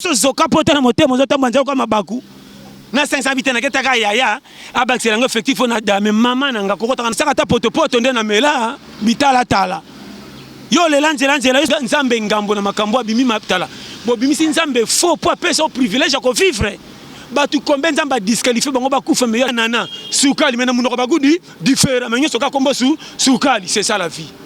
so zoka poto na motema ozo tambwa nzela kwa mabaku na sengi sabi te naketaka yaya abakisela yango effectif oyo na dame mama na nga kokotaka nasaka ata potopoto nde na mela bitalatala yo lela nzela nzela yo nzambe ngambo na makambo abimi matala bobimisi nzambe faux mpo apesa o privilège ya kovivre bato kombe nzambe adisqualifie bango bakufa meyo nana sukali me na monoko bagudi difera me nyonso kaka kombo su sukali c'est ça la vie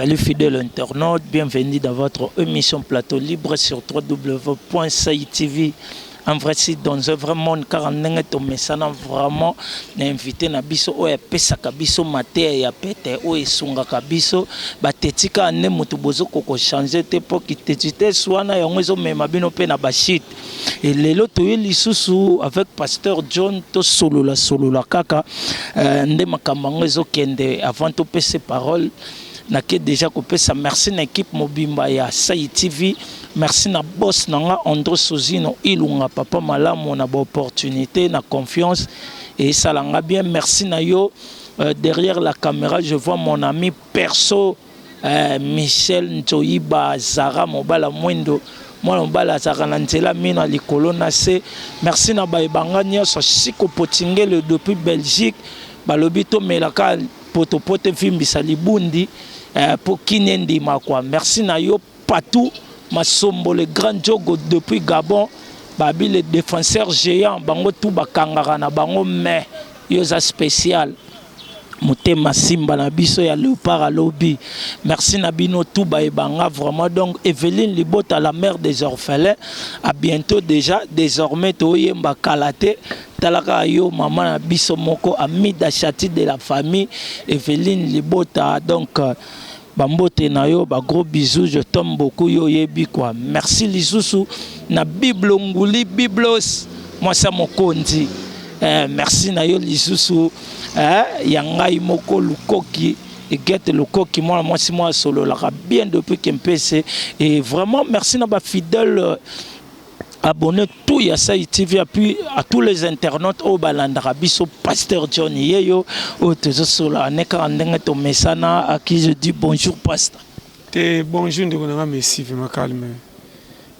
Salut fidèle internaute, bienvenue dans votre émission Plateau Libre sur www.saitv. En vrai site dans un vrai monde car en ndenge tomesana vraiment na invité na biso oyo apesaka biso mateya ya pete oyo esungaka biso batetika nde moto bozo koko change te mpo kitetites wana yango ezomema bino mpe na bashite Et lelo toye lisusu avec pasteur John to solola solola kaka euh, nde makambo yango ezokende avant topese parole nake deja kopesa merci na ekipe mobimba ya sai tv merci na boss na nga andro sozino ilunga papa malamu na baopportunité na confiance esala nga bien merci na yo euh, derrière la caméra je vois mon ami perso Eh, Michel Nzoyiba, Zara Mobala Mwendo, mwana mobali azalaka na nzela mino ya likolo na se. Merci na baye banga nyonso. Siko Potingele depuis Belgique balobi tomelaka potopoto evimbisa libundi eh, po kini endima kwa. Merci na yo Patou Masombo le grand jogo depuis Gabon babi le défenseur géant bango tout bakangaka na bango mais yo oza spécial. Motema simba na biso ya leopard à lobi merci na bino tout ba ebanga vraiment donc Evelyne libota la mère des orphelins à bientôt déjà désormais to yemba kalate talaka yo maman na biso moko amida chati de la famille Evelyne libota donc euh, ba mbote na yo ba gros bisous je t'aime beaucoup yo yebi quoi merci lisusu na bible nguli biblos mwasa mokonzi eh, merci na yo lisusu eh, ya ngai moko lukoki Egete Lokoki, moi, moi, si moi, solo, la bien depuis Kempese. Et vraiment, merci à ma fidèle. abonne tout ya sai tv apui à tous les internautes oyo balandaka biso pasteur john yeyo oyo tozosola anekaka ndenge tomesana à qui je dis bonjour pasta te bonjour ndeko nanga messi vrema calme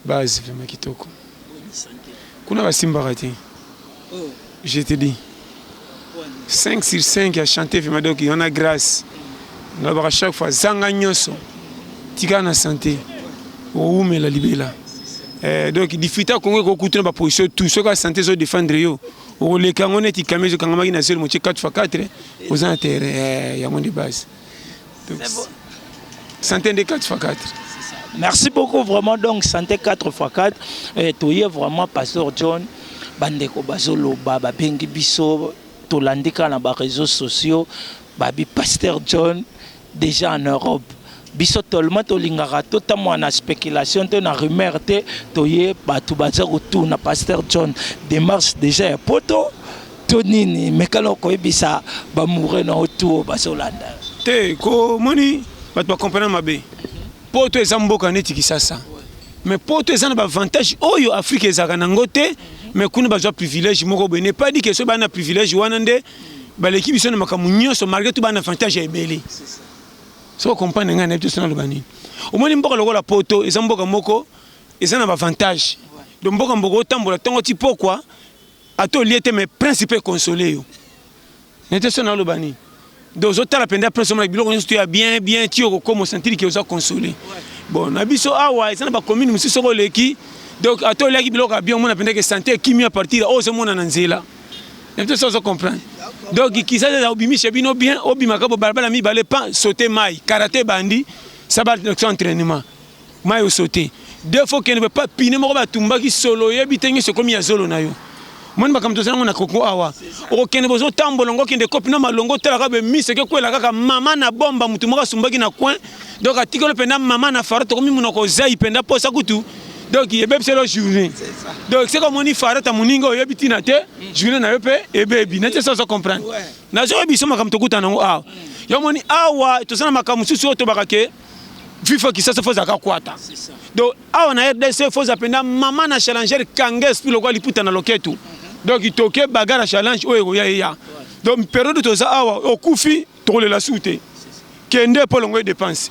base vrema kitoko kuna basimbaka te Je te dis. 5 sur 5 ya chante fima donc yona grâce nalobaka chaque fois zanga nyonso tika na sante owumela libela eh, donc difita kongo ekokuta na baposition tout soki asante ezo défendre yo okoleka yango neti kame ezokangamaki na zelo motie 4 fois 4 oza na terrain eh, yango nde base Santé nde 4 fois 4. Merci beaucoup vraiment donc santé 4 fois 4 eh, toye vraiment pasteur John bandeko bazoloba babengi biso tolandi kaka na bareseau sociaux babi pasteur John déjà en Europe biso tolema tolingaka totambola na spéculation te na rumeur te toye bato baza kotuna pasteur John démarche déjà ya poto to nini meka na koyebisa bamoure na yo tuo bazolanda te komoni bato bacomprena mabe poto eza mboka neti kisasa me poto eza na baavantage oyo afrika ezalaka nango te me kuna bazwa privilège moko boye ne pas di ke soki baa na privilège wana nde baleki biso na makambo nyonso malgré to baa na avantage ya ebele soko comprendre ngai nayebi te so naloba nini omoni mboka lokola poto eza mboka moko eza na baavantage donc mboka mboka otambola ntongo ti pokwa ata olie te mais prince pe console yo nete so naloba nini donc ozotala mpenza prince omona biloko nyonso to ya bien bien ti okokoma osantiri ke oza console bon na biso awa eza na bacommune mosusu soki oleki donc ata oliaki biloko ya bien omona mpenza ke sante ekimi ya partir oyo ozomona na nzela nete so ozo comprendre donc kisasa obimisha bino bien obimaka bobalabala mibale pa sote mai karate bandi sabal entraînement Mayi osote deux fois okende pe pa pine moko batumbaki solo oyebi te nyoso ekomi ya zolo na yo moni makambo toza nango na koko awa okokende bozo tambola ngo okende kopi na malongo otalaka be miso ekekwela kaka mama na bomba motu moko asumbaki na coin donc atikolo mpenza mama na fara tokomi monoko ozai mpenza mposa kutu donc ebebiselo journée donc seke omoni farata moninga oyebi ntina te journée na yo mpe ebebi na te sozo comprendre nazoyebi biso makambo tokutana yango awa yo omoni awa toza na makambo mosusu oyo tobaka ke fifa kisasa fo ezalaka kwata donc awa na rdc fo eza mpenza mama na challenger kanga esprit lokola liputa na loketu donc toke bagara challenge oyo ekoya eya donc periode toza awa okufi tokolela su te kende mpo longo ye dépense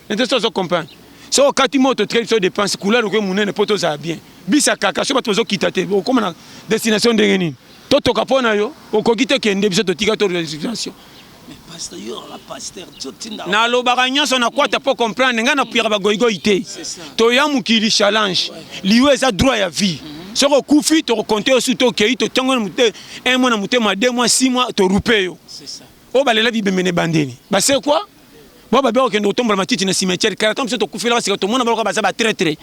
nete so ozo comprendre so okati moto otikali biso dépense couleur okoki monene mpo tozala bien bisa kaka so bato bazokita te okoma na destination ndenge nini totoka mpo na yo okoki te kende biso totika to resignation nalobaka nyonso na kwata mpo comprendre ngai napuyaka bagoigoi te toya mokili challenge liyo eza droit ya vie mhm. soki okufi tokokonte yo su tokei totiango un mois na motema deux mois six mois torupe yo oyo balela bibembe na ebandeli basekwa Ba babia kokende kotombola matiti na cimetière kala ntango biso tokufela basika tomona baloka baza batretre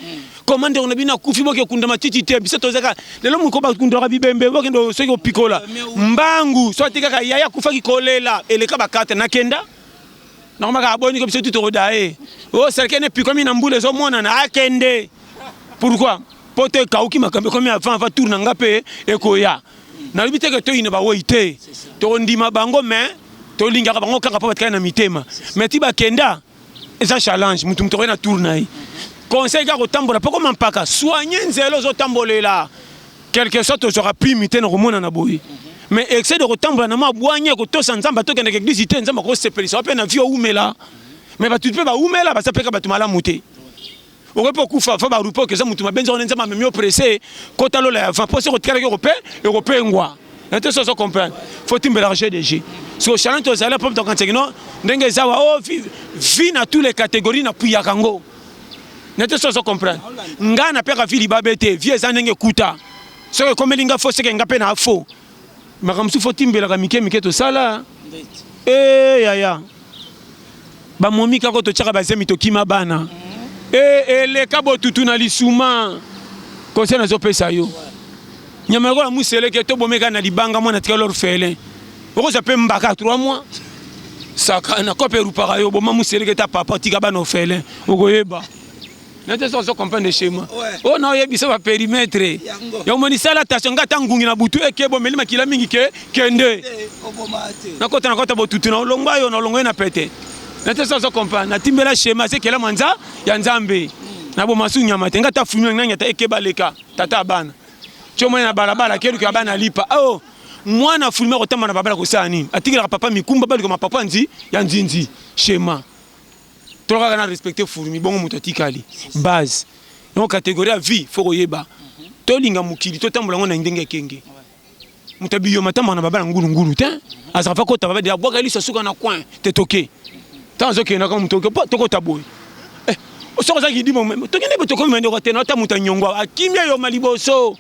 koma ndeko na bino akufi boke okunda matiti te biso tozaka lelo moko bakundaka bibembe bokende soki kopikola mbangu so ate kaka yaya akufaki kolela eleka bakata nakenda nakomaka aboniko biso tu tokoda ye o oh, serkene epikomi na mbula ezomonana akende pourkui mpo to ekauki makambo ekomi avant avant tour na nga mpe ekoya nalobi te ke toyina bawei te tokondima bango me tolingaka bango kaka mpo batikali na mitema me ti bakenda eza challenge motu motu okoki na tour na ye conseil kaka kotambola mpo koma mpaka soigne nzela ozotambolela quelque soit tozwaka prime te na komonana boye mais excès de kotambola na mwa bwanya kotosa nzambe atokendaka eglise te nzambe akosepelisa wape na vie oumela mais bato mpe baumela baza mpeka bato malamu te okoki mpe okufa avant barupe oke eza motu mabe nzokande nzambe amemi yo presse kota lola ya va mposi ekotikalaki okope ekopengwa na te soso comprendre faut timbelaka jeu de jeu siko chalante ozali mpo mtokanseki no ndenge eza wa o vi na tous les catégories na puyaka yango na te soso comprendre ngai napiyaka vi libabe te vi eza ndenge ekuta soki ekomeli ngai fo seke ngai mpe na fo makambo mosusu fotimbelaka mike mike tosala e eh, yaya bamomi kako totyaka bazemi tokima bana e eh, eleka botutu na lisuma conseil nazopesa yo nyama lokola museleke tobomeka na libanga mwana tika lor fele okozwa mpe mbaka 3 mois saka na kope erupaka yo boma museleke ta papa tika bana ofele okoyeba nete so ozo comprendre schéma oyo na oyebisa ba perimetre ya omoni sala attention nga ata ngungi na butu eke bomeli makila mingi ke kende nakota nakota botutu na olongwa yo na olongwa ye na pete nete so ozo comprendre natimbela schéma sekela manza ya nzambe na bomasu nyama te nga ata fumi nani ata eke baleka tata abana comoni na balabala keluka abana lipa o oh, mwana fulmi akotamba na babala kosala nini atikelaka papa mikumba balikoma papa nzi ya nzinzi schéma tolo kaka na respecte fourmi bongo moto atikali base yango catégorie ya vie fo koyeba tolinga mokili totambola yango na ndenge ekenge moto ya biyoma atambaka na babala ngulungulu te azaka fa kota babadi abwaka liso asuka na coin te toke ntango azokende kaka moto tokota boye eh, soki ozaki dimo tokende botokomi mandeko te na ata moto anyongo akimi eyoma liboso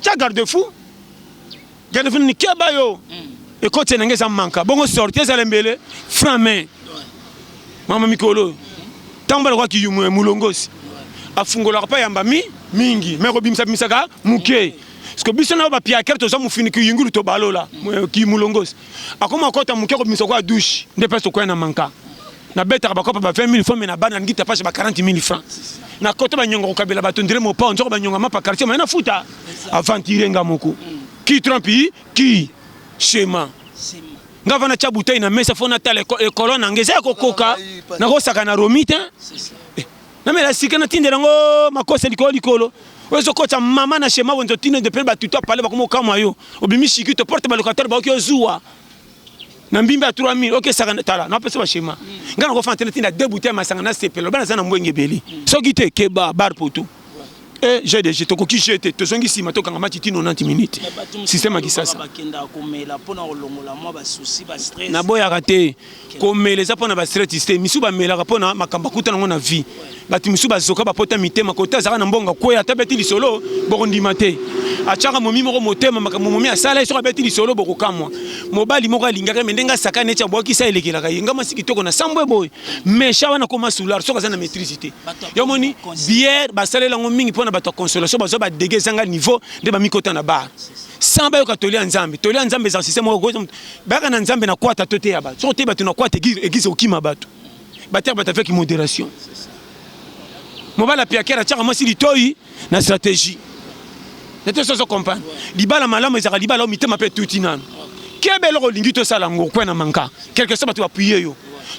Tya garde fou. Garde fou ni keba yo. Mm. Ekoti na ngeza manka. Bongo sortie ezala mbele franc main. Mama mikolo. Tango bala kwa kiyumu ya mulongosi. Afungolaka pa yamba mi mingi. Mais ko bimisa bimisaka muke. Parce que biso na ba piakere toza mufini kiyungulu to balola. Ki mulongosi. akoma kota moke kobimisa kwa douche nde place tokoya na manka nabetaka bakopa ba 20 000 francs me na bana nalingi tapashe ba 40 000 francs na kota banyonga kokabela bato ndire mopao nzoko banyonga mapa quartier mai nafuta aventire nga moko ki trampi ki shema nga vana tya butei na mesa fo natala ekolo na nga eza ya kokoka nakosaka na romi te Na mela sika na tindela ngo makosa likolo likolo. Oyo zo kocha mama na shema wenzo tino de pele batuto apale bakomo kamwa yo. Obimi shikito porte ba locataire ba okyo zuwa. Na mbimba 3000 oke saka tala na pesa ba shema. Ngana ko fantena tinda deux bouteilles masanga na sepelo bana zana mbwenge beli. Soki te keba bar poto. Eh, j'ai des jeux, tokoki jeu te, tozongi sima tokanga match ti 90 minutes. Système ya kisasa. Bakenda komela pona kolongola mwa ba soucis, ba stress. Naboyaka te. komela eza mpo na bastratis te misusu bamelaka mpo na makambo akuta nango na vie bato misusu bazoka bapota mitema kote azalaka na mbongo akweya ata abeti lisolo bokondima te atyaka momi moko motema makambo momi asala ye soki abeti lisolo bokokamwa mobali moko alingaka ye me ndenge asakani eti abwakisa elekelaka ye nga mwasi kitoko na sambo eboye mesha wana koma soulard soki aza na maîtrise te yo moni biere basalela yango mingi mpo na bato ya consolation bazwa badege ezanga niveau nde bamikota na bar sans bayoka toli ya nzambe toli ya nzambe eza système moko Baka na Nzambe na kwata to te ya bato. Soko te bato na kwata eglise eglise okima bato. Bater bato avec modération. Mobala piakera chaka mwasi litoi na stratégie. Na te soso comprendre. Libala malamu ezaka libala o mitema pe tuti nanu. Kebe eloko olingi tosala yango okwe na manka. Quelque soit bato bapuye yo.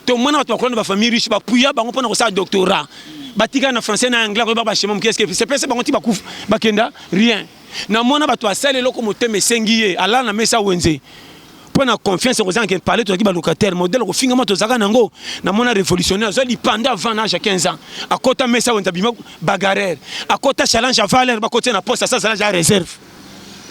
To mwana bato bakola na ba famille riche bapuya bango pona kosala doctorat. Batika na français na anglais koyeba ba chemin muke eske sepese bango ti bakufa bakenda rien. Na mwana bato asali eloko motema esengi ye alala na mesa wenze mpo na confiance yango ezangi parle tozalaki balocataire modele kofingama tozalaka na yango na mwana révolutionnaire azwa lipanda avant na age ya 15 ans akota mesa wenze abima bagarreur akota challenge avaler bakoti na poste asa azala ja réserve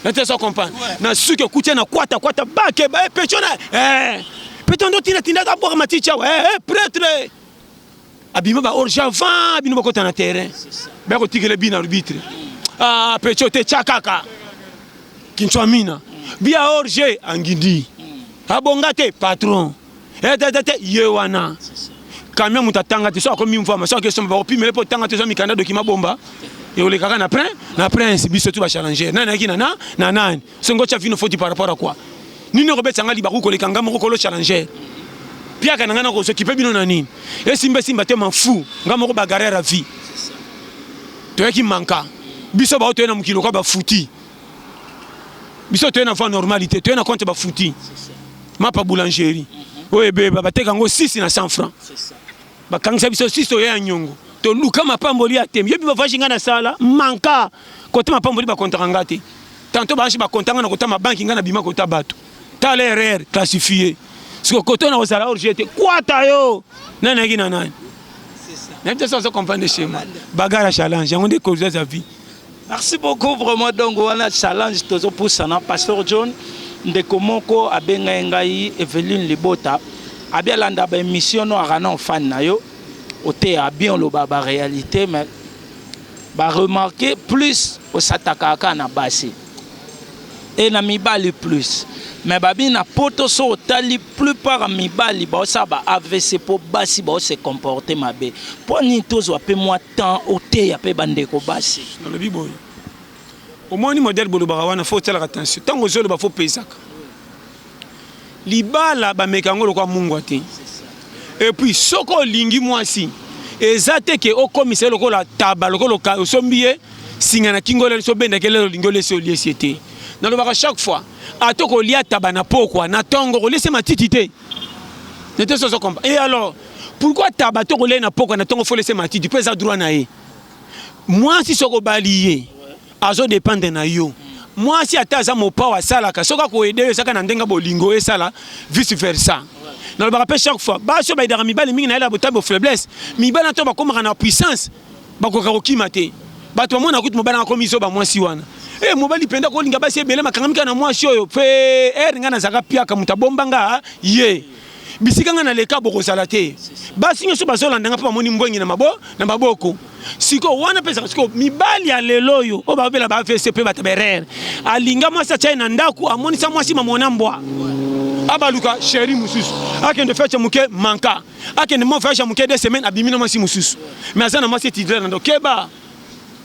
nate so comprendre na suki okuti na kwata kwata bakeba eh, pechona eh, peto ndo tina tindaka bwaka maticha eh, eh, pretre abima ba orge avant bino bakota na terrain baya kotikela bi na arbitre ah, pecho te tya kaka kinchwamina bia orge angindi abonga te patron etetete eh, ye wana kamia moto atanga te so akomi mvama so akesomba bakopimele mpo otanga te ozwa mikanda dokima bomba ekolekaka na prin na prince biso tu bachallenger nani ayaki na na na nani Sengo tia vino foti par rapport à quoi? Nini okobetisa nga libaku koleka nga moko kolo challenger? Piaka na nga na kozo kipe bino na nini? Esimba esimba te m'en fou. Nga moko bagarreur à vie. Toyaki manka. Biso bao toye na mokili lokola ba futi. Biso toye na voie normale te, toye na compte ba futi. Mapa boulangerie. Oyo ebeba bateka yango 6 na 100 francs. Bakangisa biso sisi oya ya nyongo. Toluka mapamboli ya tembe. Yobi bavage nga na sala manka kota mapamboli bakontaka nga te. Tanto baashi bakonta nga na kota mabanki nga na bima kota bato. Tala erreur classifie. Siko koto na kozala hors jeu te. Kwata yo. Nani ayaki na nani? Na biso azo comprendre chez moi. Bagarre ya challenge yango nde koza za vie. Merci beaucoup vraiment donc wana challenge tozo pusana pasteur John ndeko moko abenga ngai Eveline Libota abi alanda ba émission no arana fan na yo oteya bien oloba ba réalité mais ba remarquer plus osataka kaka na basi et na mibali plus mais babi na poto so otali plupart mibali baosala ba avc mpo basi bao se comporte mabe mpo nini tozwa mpe mwa temps oteya mpe bandeko basi nalobi boye omoni modele bolobaka wana fo otalaka tension ntango ozoloba fo opesaka Libala ba meka yango lokola mungwa te et puis soki olingi mwasi eza te ke okomisa ye lokola taba lokola osombi ye singa na kingo lelo so benda ke lelo olingi olesi oliesi ye te nalobaka chaque fois ata okolia taba na pokwa na tongo okolesi ye matiti te nete soso kompa et alors pourquoi taba to kolia ye na pokwa na tongo fo olesi ye matiti po eza droit na ye mwasi soki obali ye azo dependre na yo mwasi ata aza mopao asalaka soki akoede ezaka na ndenge bolingo esala vice versa nalobaka mpe chaque fois basi oyo baidaka mibali mingi na yela botali bofaiblesse mibali na to bakomaka na puissance bakoka kokima te bato bamona kutu mobali akomi zoba mwasi wana e eh, mobali mpenza kolinga basi ebele makangamika na mwasi oyo mpe ere eh, ngai nazalaka piaka moto abomba nga ye bisika ngai naleka bokozala te basi nyonso bazolanda ngai mpo bamoni mbwengi na maboko sikoyo wana mpe ezaka sikoyo mibali ya lelo oyo oyo babela ba avc mpe bataberere alinga mwasi atya ye na ndako amonisa mwasi mamona mbwa abaluka sheri mosusu akende fete moke manka akende mo voyage ya moke de semaine abimi na mwasi mosusu mais aza na mwasi etidre na ndo keba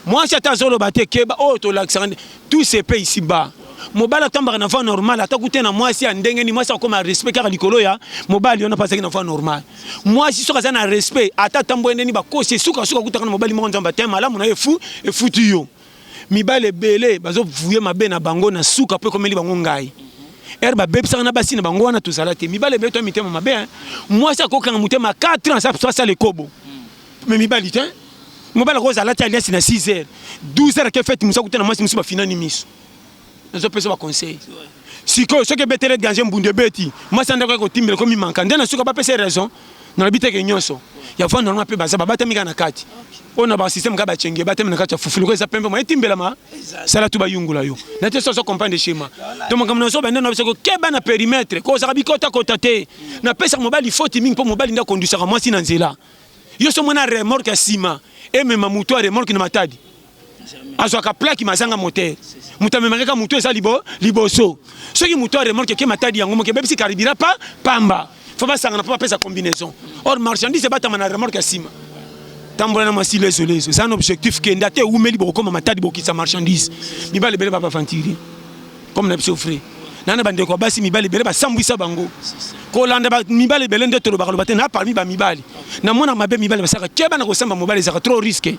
mwasi ata azoloba te keba oyo tolakisaka nde tout se paye ici bas mobali atambaka na voie normale ata kute na mwasi ya ndenge nini mwasi akoma respect kaka likolo ya mobali wana mpo azalaki na voie normale mwasi soki aza na respect ata atambweli ndeni bakosi esukasuka kutaka na mobali moko nzambe te malamu na ye efu efuti yo mibali ebele bazovuye mabe na bango na suka mpo ekomeli bango ngai ere babebisaka na basi na bango wana tozala te mibali ebele to mitema mabe mwasi akokanga motema 4 ans asala ekobo mais mibali te mobali akoza alati aliasi na 6 heures 12 heures ake fete mosu akuta na mwasi mosusu bafinani miso nazopesa baconseil sikoyo soki ebetele danger mbundu ebeti mwasi ya ndako ya kotimbela ekomi manka nde na suka bapesa raison nalobi teke nyonso ya vanda wana mpe baza babatami kaka na kati oyo na basysteme kaka bacenge batami na kati ya fufu loko eza pembe ma etimbelama sala tu bayungula yo na te soso comprendre schéma to makambo na zoba nde na biso kokeba na perimetre kozaka bikotakota te napesaka mobali foti mingi mpo mobali nde akondwisaka mwasi na nzela yo so mona remorque ya sima emema moto ya remorque na matadi azwaka plaki mazanga motere moto amemaka kaka moto eza libo, liboso soki moto ya remorque eke matadi yango moke ebebisi karibira pa pamba fo basangana mpo bapesa combinaison or marchandise ebatama na remorque ya nsima tambola na masilo ezolezo eza na objectif kenda te eumeli bokokoma matadi bokisa marchandise mibale ebele baba aventurier comme na biso frais nana bandeko ya basi mibali ebele basambwisa bango kolanda mibali ebele nde tolobaka loba te na parmi bamibali na mwana mabe mibali basaka keba na kosamba mobali ezaka trop risque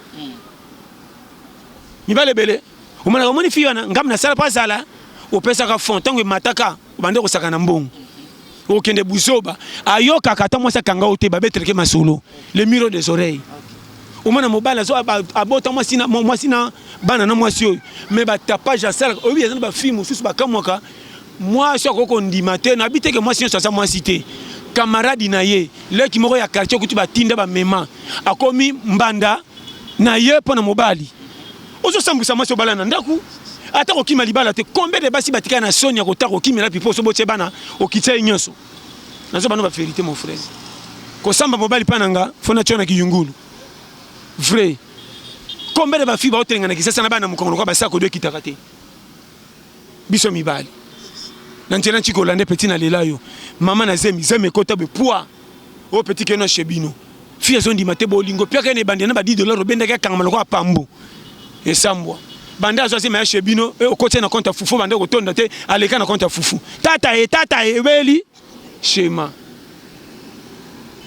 mibali ebele omonaka omoni fi wana ngambo nasala mpo azala opesaka fond ntango emataka obande kosaka na mbongo okende buzoba ayokaka ata mwasi akanga yo te babeteleke masolo le miro des oreilles omona mobali azo abota mwasi na mwasi na bana na mwasi oyo mais batapage asalaka oyebi eza na bafilme mosusu bakamwaka mwasi akoki kondima te nayebi te ke mwasi nyonso aza mwasi te kamaradi na ye leki moko ya quartier okuti batinda bamema akomi mbanda na ye mpo na mobali ozo sambwisa mwasi obala na ndaku ata kokima libala te combien de basi batika na soni ya kota kokimela pipo oso botie bana okitisa ye nyonso nazo bano ba verite mon frère kosamba mobali mpa na nga fo natyo na kiyungulu vrai combien de bafi baotelenga na kisasa na bana mokongo lokola basi akodo ekitaka te biso mibali na nzela nci kolande peti na lela yo mama na zemi zemi ekota be pwa o peti keno chez bino fi azondima te bolingo piaka ene ebande na badi dollar obendaki akangama lokola pambu esambwa banda azwa zemi ya chez bino e okoti na compte ya fufu banda kotonda te aleka na compte ya fufu tata e tata e ebeli Shema.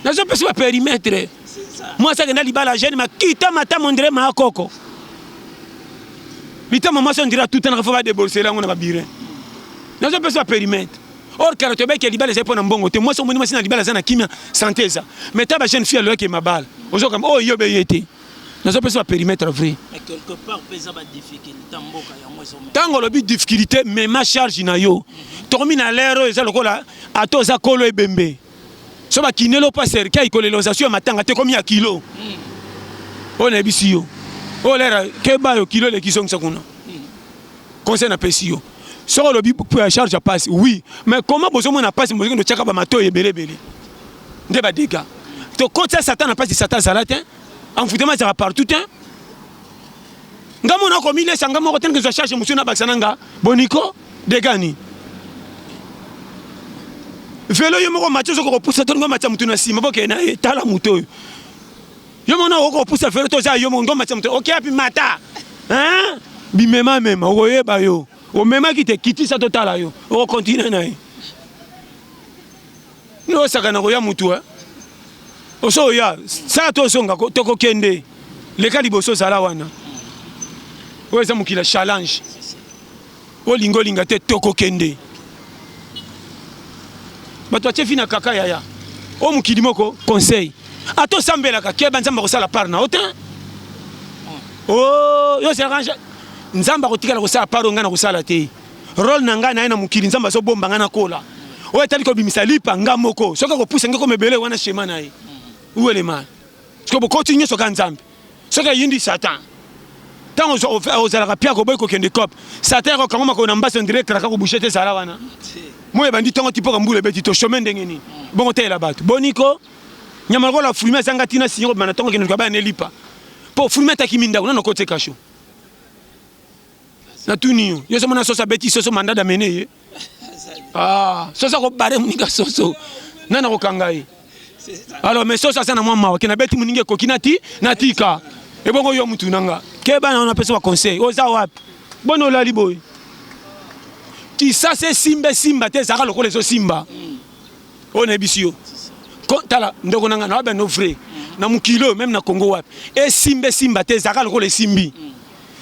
Nazo pesa ba perimetre. Mwasi akenda libala jeune makita mata mondre ma koko. Bitama mwasi ondira tout na fa débolser lango na ba birin. Nazo pesa ba perimetre. Or kala to beke libala zepo na mbongo te mwasi omoni mwasi na libala zana kimia santé eza. Mais ta ba jeune fille aloke mabala. Ozo kamba oh yo be yete. nazo pesa ba perimetre vrai mais quelque part pesa ba difficulté mboka yango ezo tango lobi difficulté mais ma charge na yo tomi na lero eza lokola ata oza kolo ebembe so ba kinelo pa serika ikolelosation ya matanga te komi ya kilo hmm. oyo nayebisi yo oyo lera keba yo kilo eleki zongisa kuna hmm. conseil napesi yo soki olobi charge ya pasi oui mais comment bozomona pasi bozokende otyaka bamatoyi ebele ebele nde ba dega tokotisa satan na mpasi satan azala te envoutema ezalaka partout te nga mona akomilesa nga moko tene kezwa charge mosusu nabakisa na nga boniko degani velo yo moko mati ozokoka kopusa to ngo matya motu na nsima bokee na ye tala moto oyo yo moko na okoki kopusa velo to oza yo moko ngo matya motu oke api mata bimemamema okoyeba yo omemaki te kitisa totala yo okokontinue na ye Yo osakana koya mutu eh? Oso oya saa to osonga tokokende leka liboso zala wana oyo eza mokili ya challenge olinga olinga te tokokende bato atye fi na kaka yaya o mokili moko conseil ata osambelaka keba nzambe akosala par na yo te o oh, yo ozalaka nzambe akotikala kosala par oyo ngai nakosala te Role na ngai naye na mokili nzambe azo bomba ngai nakola oyo etali kobimisa lipa nga moko soki akopusa ngai koma ebele wana shema na ye uelema soki bokoti nyonso kaka nzambe soki ayindi satan ntango ozalaka pia koboyi kokende cop satan yako kango makolo na mbasi ondire kraka kobushe te ezala wana moi ebandi ntongo tipoka mbula ebeti to shome ndenge nini bongo telela bato boniko nyama lokola fruime ezanga ntina sinyo kobima na ntongo kende luka baya nelipa mpo fruime atakimi ndako nano kotie kasho Na tuni yo. Yo somo na soso abeti soso mandat d'amener ye. Ah, soso ko bare muninga soso. Nana ko kanga ye. Alors mais soso asana mwa mawa kina beti muninga ekoki na ti na tika. Ebongo yo mutu nanga. Ke bana wana pesa ba conseil. Oza wapi? Bono lali boy. Kisase simbe simba te zaka lokola ezo simba. Oyo na ebisi yo. Tala ndoko nanga na wabe no vrai. Na mukilo même na Congo wapi. Esimbe simba te zaka lokola esimbi. Mm.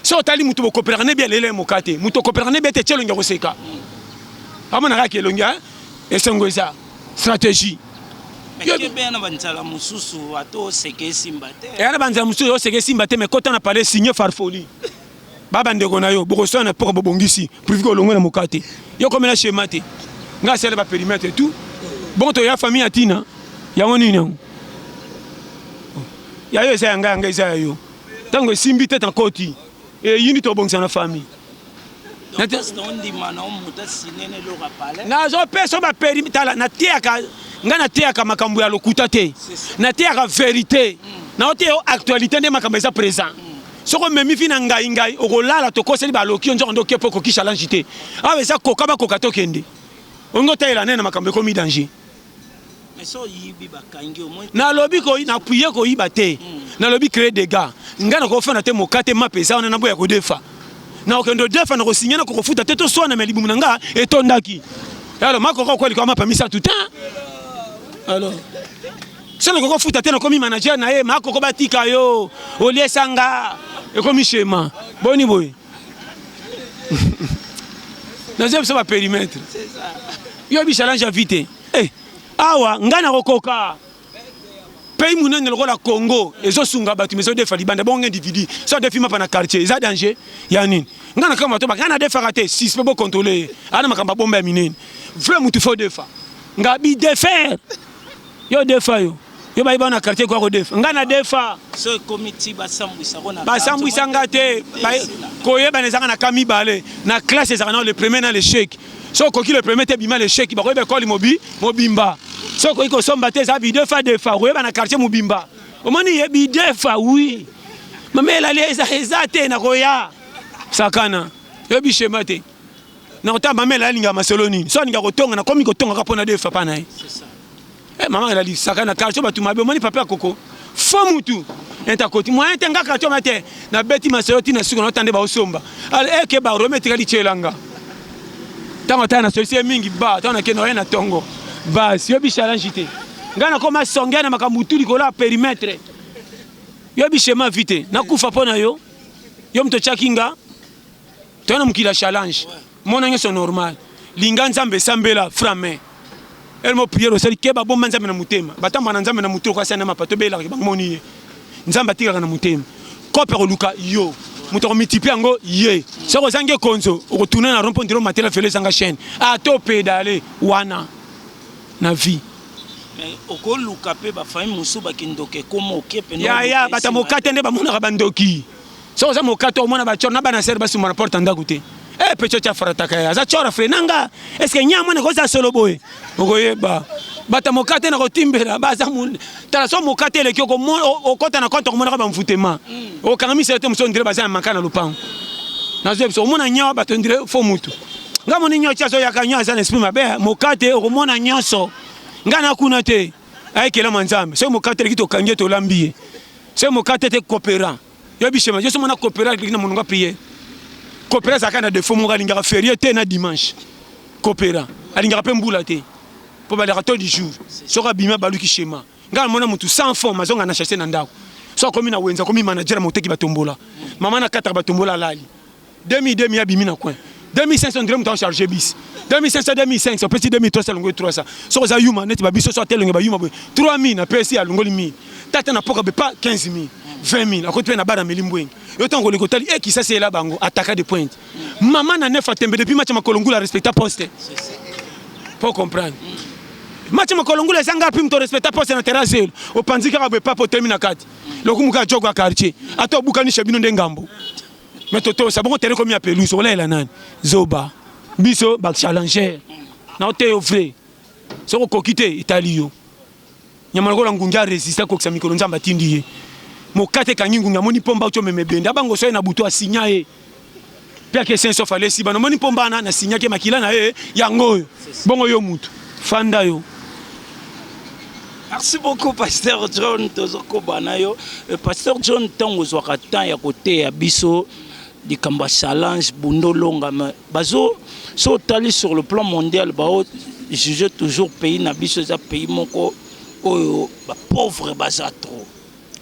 so otali moto bokopelaka ne bia lelo ya moka te moto okopelaka ne bia te tye elongi ya koseka amonaka yaka elongi ya esengo eza stratégie eya na banzala mosusu oseka esimba te me kota na pale signe farfoli babandeko na yo bokoswana na mpoka bobongisi privi kolongwe na moka te yo komela shema te ngai asala baperimetre tout bongo toya famille ya ntina yango nini yango ya yo eza ya ngai ya ngai eza ya yo Tango esimbi te ta koti. Et yini to bongisa na famille. Nazo pesa ba permis tala na tiaka nga na tiaka makambo ya lokuta te. Na tiaka verite. Hmm. Na ote yo actualité nde makambo eza présent. Hmm. soki omemi vi na ngai ngai okolala tokoseli baloki yo nzoko nde okepo okokisa langi te awa eza koka bakoka tokende olingi otalela nene na makambo ekomi danger nalobi napuye koyiba te hmm. nalobi cree dega ngai nakofanda te mokate mape eza wana naboya kodefa nakokende odefa nakosinya nakokofuta te toswana me libumu na ngai etondaki alors makoka okweli kwa mapa misato te alors so nakoki kofuta te nakomi manager na ye makoko batika yo oliesanga ekomi shema boni boye naza biso ba perimetre yo bi challenge ya vie te eh, awa ngai nakokoka pays monene lokola congo ezosunga bato mais ezodefa libanda bongo individu so adefi mapa na quartier eza danger ya nini ngai na kama toba ngai nadefaka te sis mpe bocontrole ye ana makambo ya bomba ya minene vrai motu fo defa ngai bidefer Yo defa yo. Yo bayi bana quartier kwa ko defa. Nga na defa. So ekomi ti basambwisa ko na. Basambwisa nga te. Koyeba na ezanga na ka mibale. Na classe ezaka na le premier na l'échec. So koki le premier te bima l'échec. Bako yeba école mobi mobimba. So koki ko somba te za bi defa defa. Koyeba na quartier mobimba. Omoni ye bi defa oui. Mamela le eza eza te na koya. Sakana. Yo bi shema te. na kota mamela alinga masolo nini so alinga kotonga na komi kotonga kapo na de papa na ye eh mama la lisaka na quartier batu mabe moni papa koko fo mutu enta koti moyen te nga quartier mate na beti masolo tina suka na tande ba osomba al eh ke ba rome tika lichelanga tango tana solution mingi ba tana ke noye na tongo ba si yo bi challenge te nga na koma songa na makambo tu likolo ya perimetre yo bi chema vite na kufa pona yo yo mto chakinga Toya na mokili ya challenge. Mona nyoso normal. Linga Nzambe sambela franc mais elmo prière osali keba bomba Nzambe na motema. Batamba na Nzambe na moto kwa sana mapa to bela ba moni ye. Nzambe atikaka na motema. Kope ko luka yo. Moto ko multiplier yango ye. Soko zange konzo okotuna na rompo ndiro matela fele zanga chaîne. A to pedale wana na vie. Mais okoluka pe ba famille musu ba kindoke komo okepe no. Ya ya batamokate nde bamonaka ba ndoki. soki oza moka to omona bachor na bana sere basumba na porte ya ndako te e eh, pecho tya farataka ye aza chora fre na nga eske nya mwana koza solo boye okoyeba bata moka te na kotimbela baza tala so moka te eleki okota na konte okomonaka bamfutema mm. okanga misele te mosu ondire baza ya maka na lopango nazoyebi so omona nyawa bato ondire fo mutu nga moni nyonso azoyaka nyonso aza na esprit mabe moka te okomona nyonso nga nakuna te Aye kelama nzambe. Soki mokate eleki tokangi ye tolambi ye. Soki mokate te kopera. Yo bishema yo somo na kopera eleki na mononga prière. Kopera zaka na défaut moko alingaka férié te na dimanche. Kopera alingaka pe mbula te. Po balaka to du jour. Soki abima baluki shema. Nga mona mutu sans fond mazonga na chasse na ndako. Soki akomi na wenza akomi manager moteki batombola. Mama na kataka batombola alali. Demi demi abimi na coin. 2500 ndire moto charge bis. 2500 2500 opesi 2300 longo 300. Soko za yuma neti ba biso so atelonge ba yuma boye. 3000 na pesi alongoli 1000. Tata na poka be pas 15000. 20000 akoti pe na bana meli mbwengi. Yo tango koleko tali e eh, kisasi ela bango ataka de pointe. Mama na nefa tembe depuis match makolo ngula respecta poste. Pour comprendre. Match makolo ngula ezanga pim to respecta poste na terrasse. Opanzi kaka be papo temi na kati. Lokumuka jogo ya quartier. Ata obukani chabino ndengambo. mais toto sabongo tere komi ya pelouse olaela nani zoba biso ba challenger na oteyo vrai soki okoki te etali yo nyama lokola ngungi aresiste akokisa mikolo nzambe atindi ye mokate ekangi ngungi amoni mpomba uti omema ebende abango soye na butu asinya ye mpe ake saint sauf alesi bana omoni mpomba wana nasinyaki makila na ye yango oyo bongo yo mutu fanda yo Merci beaucoup Pasteur John tozokoba na yo. Euh, Pasteur John ntango ozwaka temps ya koteya biso likambo ya challenge bundolonga me bazo so otali sur le plan mondial bao juge toujours pays na biso eza pays moko oyo bapauvre baza trop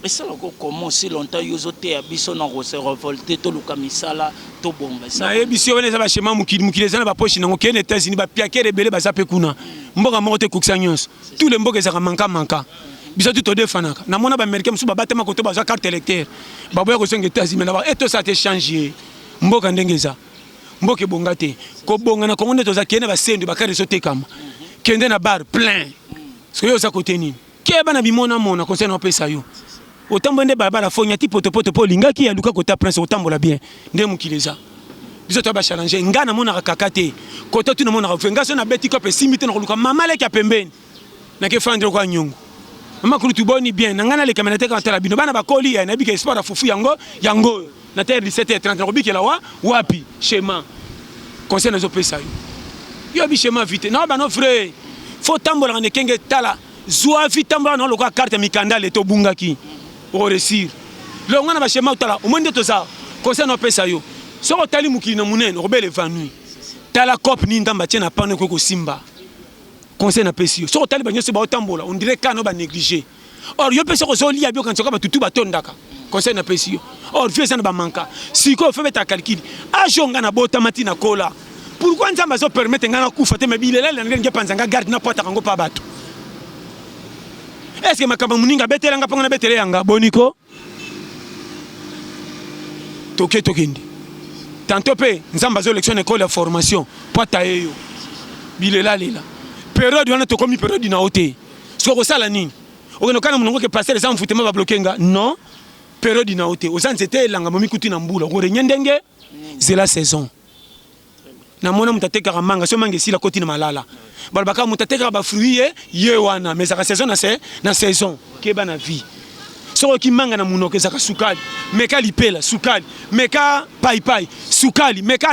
Esala ko comment aussi longtemps yo ozo teya biso na ko se revolter toluka misala tobonga esala Na yebisi yo wana eza ba schéma mokili mokili eza na ba poche nango kende Etats Unis ba piakere ebele baza pe kuna mboka moko te ekokisa nionso tout le mboka ezalaka manka manka biso tout todefanaka na mona ba americain mosusu babatama koto bazwa carte electeur baboya kozonga Etats Unis mais na ba e tosala te change ye mboka ndenge eza mboka ebonga te kobonga na Congo nde toza kende na ba sendwe ba carte ezotekama kende na bar plein soki yo oza kote nini Keba na bimona mona conseil na pesa yo. Otambwe nde balabala fo nyati poto poto po lingaki ya luka kota prince otambola bien. Nde mukili eza. Biso to ba challenge nga na mona kaka te. Kota tu na mona ka fe nga so na beti ko pe simbi te na luka mama leki ya pembeni. Na ke fandre kwa nyongo. Mama kulutu boni bien na nga na leka menate ka tala bino bana bakoli ya na bika espoir ya fufu yango yango. na terre 17h30 na kobikela wa wapi schéma conseil nazo pesa yo yo bi schéma vite na bana vrai faut tambola na kenge tala zua vi tambola na lokola carte mikanda le to bungaki o réussir le ngana ba schéma tala au moins nde toza conseil na pesa yo soki otali mokili na munene okobele vanui tala cop ni ndamba tie na pano ekoki kosimba conseil na pesi yo soki otali ba nyonso baotambola on dirait kana ba négliger or yo mpe soki ozolia bi okanisa kaka batutu batondaka conseil napesi yo or vie eza na bamanka sikoyo fo beta calcule ajo nga nabotama ti nakola pourkui nzambe azopermete ngai nakufa te me bilela na ndenge epanza ngai garde napwataka yango mpa bato estce makambo moninga abetelanga mpo ngai nabetele yanga boniko toke tokende tanto mpe nzambe azoelekisa na ekole ya formation mpo ataye yo bilelalela periode wana tokomi periode na yo te soki kosala nini okende okana molongo ke pastere eza mvutema babloke nga non periode na yo te oza nzete elanga momikuti na mbula okorenye ndenge zela saison na mona moto atekaka manga so manga esila koti na malala balobaka moto atekaka bafruit ye ye wana mais ezaka saison na se na saison keba na vie soki oki manga na monoko ezaka sukali meka lipela sukali meka paipai sukali meka